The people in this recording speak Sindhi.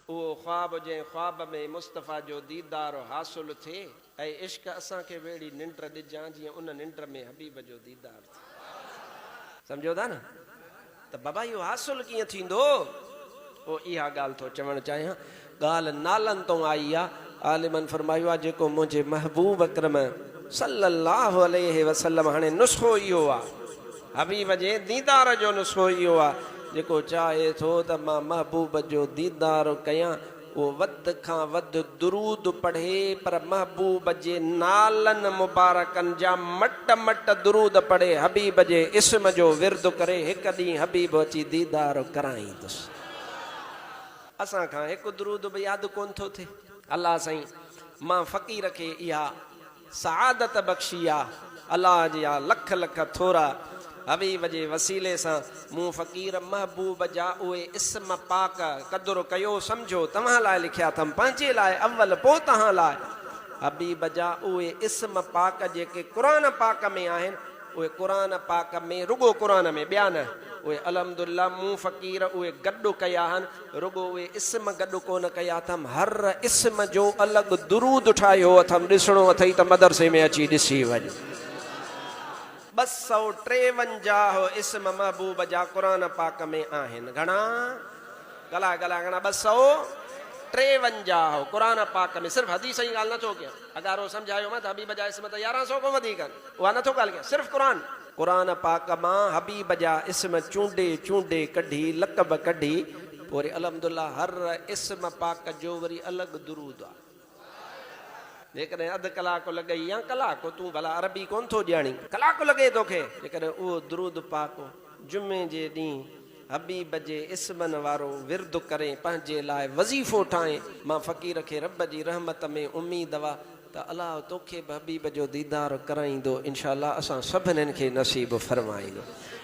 اهو خواب جنهن خواب ۾ مصطفيٰ جو ديدار حاصل ٿئي. اي عشق اسان کي وهڙي ننڊ ڏجان جيئن ان ننڊ ۾ حبيب جو ديدار ٿئي. سمجهو ٿا نه ته بابا اهو حاصل ڪيئن ٿيندو. پوء اها ڳالهه ٿو چوڻ چاهيان. ڳالهه نالن تون آئي آ. عالمن فرمايو آهي جيڪو منهنجي محبوب اڪرم صلّي اللّٰه عليه وسلّم هاڻي نسخو اهو آهي حبيب جي ديدار جو نسخو اهو آهي جيڪو چاهي ٿو ته مان محبوب جو ديدار ڪيان اهو وڌ کان وڌ درود پڙهي پر محبوب جي نالن مبارڪن جا مٽ مٽ درود پڙهي حبيب جي اسم جو ورد ڪري هڪ ڏينهن حبيب اچي ديدار ڪرائيندس. اسان کان هڪ درود به ياد ڪونه ٿو ٿئي. الله سائين مان فقير کي اها سعادت بخشي آ الله جي آ لک لک ٿورا حبيب جي وسيلي سان مون فقير محبوب جا اهي اسم پاڪ قدر ڪيو سمجهو توهان لاء لکيا اٿم پنهنجي لاء اول پو تهان لاء حبيب جا اهي اسم پاڪ جيڪي قرآن پاڪ ۾ آهن اهي قرآن پاڪ ۾، رڳو قرآن ۾، ٻيا نه، اهي الحمد الله مون فقير اهي گڏ ڪيا هن، رڳو اهي اسم گڏ ڪونه ڪيا اٿم، هر اسم جو الڳ درود ٺاهيو اٿم، ڏسڻو اٿئي ته مدرسي ۾ اچي ڏسي وڃ. ٻه سؤ ٽيونجاهه اسم محبوب جا قرآن پاڪ ۾ آهن، گهڻا؟ ڳالهاء ڳالهاء گهڻا؟ ٻه سؤ ٽيونجاهه قرآن پاڪ ۾، صرف حديث جي ڳالهه نه ٿو ڪيان. هزارو سمجهايو مان ته حبيب جا اسم ته يارهن سؤ کان وڌيڪ آهن. اها نه ٿو ڳالهه ڪيان. صرف قرآن. قرآن پاڪ مان حبيب جا اسم چونڊي چونڊي ڪڍي لقب ڪڍي پوء وري الحمدالله هر اسم پاڪ جو وري الڳ درود آ. جيڪڏهن اڌ ڪلاڪ لڳئي يا ڪلاڪ تون ڀلا عربي ڪونه ٿو ڄاڻين. ڪلاڪ لڳي توکي. جيڪڏهن اهو درود پاڪ جمعي جي ڏينهن. حبيب جي اسمن وارو ورد ڪرين پنهنجي لاء وظيفو ٺاهين مان فقير کي رب جي رحمت ۾ اميد هئا ته الله توکي به حبيب جو ديدار ڪرائيندو انشاء الله اسان سڀنين کي نصيب فرمائيندو.